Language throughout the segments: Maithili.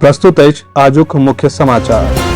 प्रस्तुत अछि आजुक मुख्य समाचार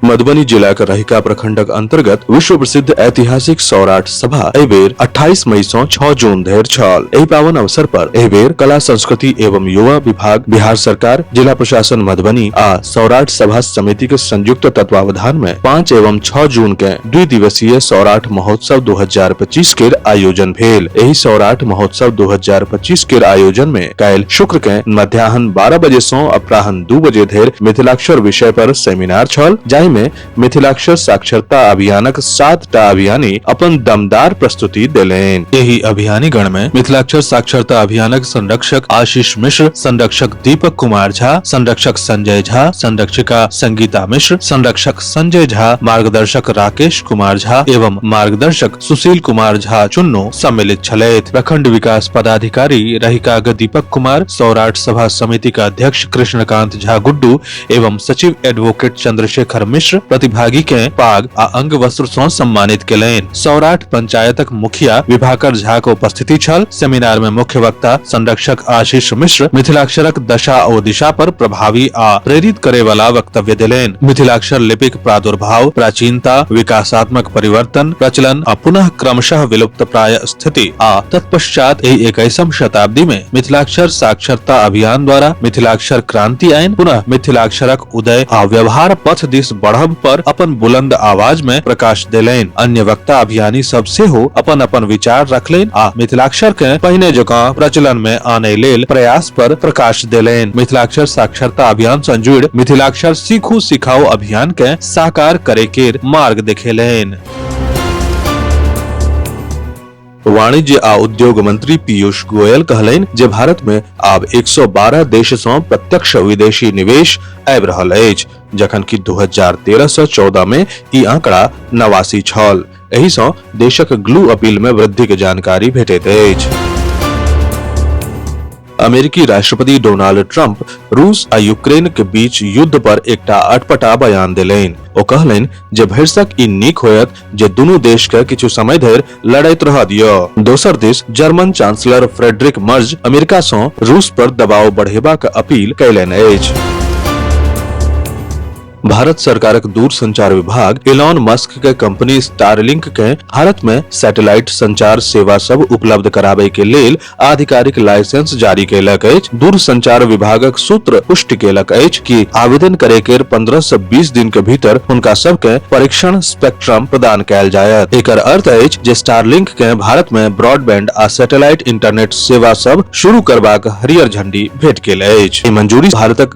मधुबनी जिलाक रहिका प्रखंडक अंतर्गत विश्व प्रसिद्ध ऐतिहासिक सौराठ सभा एहि बेर 28 मई सँ 6 जून धरि छल एहि पावन अवसर पर एहि बेर कला संस्कृति एवं युवा विभाग बिहार सरकार जिला प्रशासन मधुबनी आ सौराठ सभा समिति के संयुक्त तत्वावधान में 5 एवं 6 जून के दुई दिवसीय सौराठ महोत्सव 2025 के आयोजन भेल एहि सौराठ महोत्सव 2025 के आयोजन में काल्हि शुक्र के मध्याह्न 12 बजे सौ अपराह्न दू बजे धरि मिथिलाक्षर विषय पर सेमिनार छल जाहि में मिथिलाक्षर साक्षरता अभियानक सात टा अभियानी अपन दमदार प्रस्तुति देलनि एहि अभियानी गण में मिथिलाक्षर साक्षरता अभियानक संरक्षक आशीष मिश्र संरक्षक दीपक कुमार झा संरक्षक संजय झा संरक्षिका संगीता मिश्र संरक्षक संजय झा मार्गदर्शक राकेश कुमार झा एवं मार्गदर्शक सुशील कुमार झा चुन्नो सम्मिलित छलथि प्रखंड विकास पदाधिकारी रहिकाग दीपक कुमार सौराठ सभा समिति का अध्यक्ष कृष्णकांत झा गुड्डू एवं सचिव एडवोकेट चंद्रशेखर मिश्र प्रतिभागी के पाग आ अंग वस्त्र सौं सम्मानित केलनि सौराठ पंचायतक मुखिया विभाकर झा के उपस्थिति छल सेमिनार में मुख्य वक्ता संरक्षक आशीष मिश्र मिथिलाक्षरक दशा और दिशा पर प्रभावी आ प्रेरित करे वाला वक्तव्य दिलेन मिथिलाक्षर लिपिक प्रादुर्भाव प्राचीनता विकासात्मक परिवर्तन प्रचलन आ पुनः क्रमशः विलुप्त प्राय स्थिति आ तत्पश्चात एहि इक्कीसम शताब्दी में मिथिलाक्षर साक्षरता अभियान द्वारा मिथिलाक्षर क्रांति आयन पुनः मिथिलाक्षरक उदय आ व्यवहार पथ दिस बढ़ब पर अपन बुलंद आवाज में प्रकाश देलैन अन्य वक्ता अभियानी सब से हो अपन अपन विचार रखलैन आ मिथिलाक्षर के पहिने जकां प्रचलन में आने लेल प्रयास पर प्रकाश देलैन मिथिलाक्षर साक्षरता अभियान सँ जुड़ मिथिलाक्षर सीखू सिखाओ अभियान के साकार करे के मार्ग देखेलैन वाणिज्य आ उद्योग मंत्री पीयूष गोयल कहलनि जे भारत में आब 112 देश सँ प्रत्यक्ष विदेशी निवेश आबि रहल अछि जखन कि 2013 सँ 14 में ई आंकड़ा नवासी छल एहि सँ देशक ग्लू अपील में वृद्धि के जानकारी भेटैत अछि अमेरिकी राष्ट्रपति डोनाल्ड ट्रंप रूस आ यूक्रेन के बीच युद्ध पर एकटा अटपटा बयान देलनि ओ कहलनि जे भरिसक ई नीक होयत जे दुनू देश के किछु समय धरि लड़ैत रह दियो दोसर दिस German chancellor Friedrich Merz America सँ रूस पर दबाव बढ़ेबाक अपील कयलनि अछि भारत सरकारक दूरसंचार विभाग एलॉन मस्क के कंपनी स्टारलिंक के भारत में सैटेलाइट संचार सेवा सब उपलब्ध कराबे के लेल आधिकारिक लाइसेंस जारी कैलक अछि दूरसंचार विभागक सूत्र पुष्टि कैलक अछि कि आवेदन करे के 15 से 20 दिन के भीतर हुनका सब के परीक्षण स्पेक्ट्रम प्रदान कैल जायत एकर अर्थ अछि जे स्टारलिंक के भारत में ब्रॉडबैंड आ सैटेलाइट इंटरनेट सेवा सब शुरू करबाक हरियर झंडी भेट गेल अछि ई मंजूरी भारतक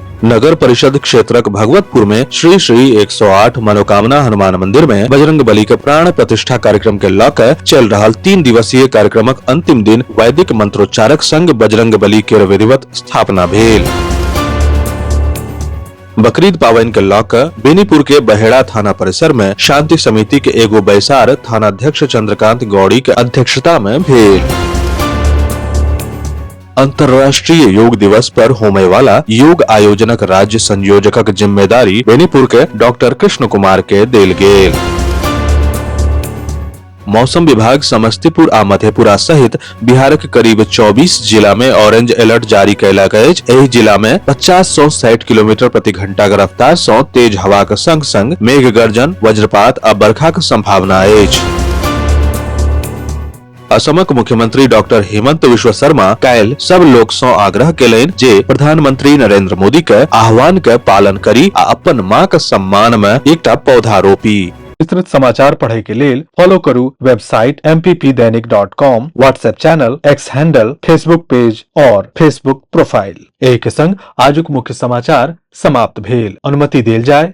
नगर परिषद क्षेत्रक भगवतपुर में श्री श्री 108 मनोकामना हनुमान मंदिर में बजरंग बली के प्राण प्रतिष्ठा कार्यक्रम के लऽ कऽ चल रहल तीन दिवसीय कार्यक्रमक अंतिम दिन वैदिक मंत्रोच्चारक संग बजरंग बली के विधिवत स्थापना भेल बकरीद पावनि के लऽ कऽ बेनीपुर के बहेड़ा थाना परिसर में शांति समिति के एगो बैसार थानाध्यक्ष चंद्रकांत गौड़ी के अध्यक्षता में भेल अंतर्राष्ट्रीय योग दिवस पर होमे वाला योग आयोजनक राज्य संयोजकक जिम्मेदारी बेनीपुर के डॉक्टर कृष्ण कुमार के देल गेल मौसम विभाग समस्तीपुर आ मधेपुरा सहित बिहारक करीब 24 जिला में ऑरेंज अलर्ट जारी कयलक अछि एहि जिला मे 50 सौ साठि किलोमीटर प्रति घंटाक रफ्तार सौ तेज हवाक संग संग मेघ गर्जन वज्रपात आ बरखाक संभावना अछि असमक मुख्यमंत्री डॉक्टर हेमंत विश्व शर्मा काल्हि सब लोक सँ आग्रह केलनि जे प्रधानमंत्री नरेंद्र मोदी के आह्वान के पालन करी आ अपन मां के सम्मान में एकटा पौधा रोपी विस्तृत समाचार पढ़य के लेल फॉलो करू website mppdainik.com WhatsApp channel X handle Facebook page और फेसबुक प्रोफाइल एहि के संग आजुक मुख्य समाचार समाप्त भेल अनुमति देल जाय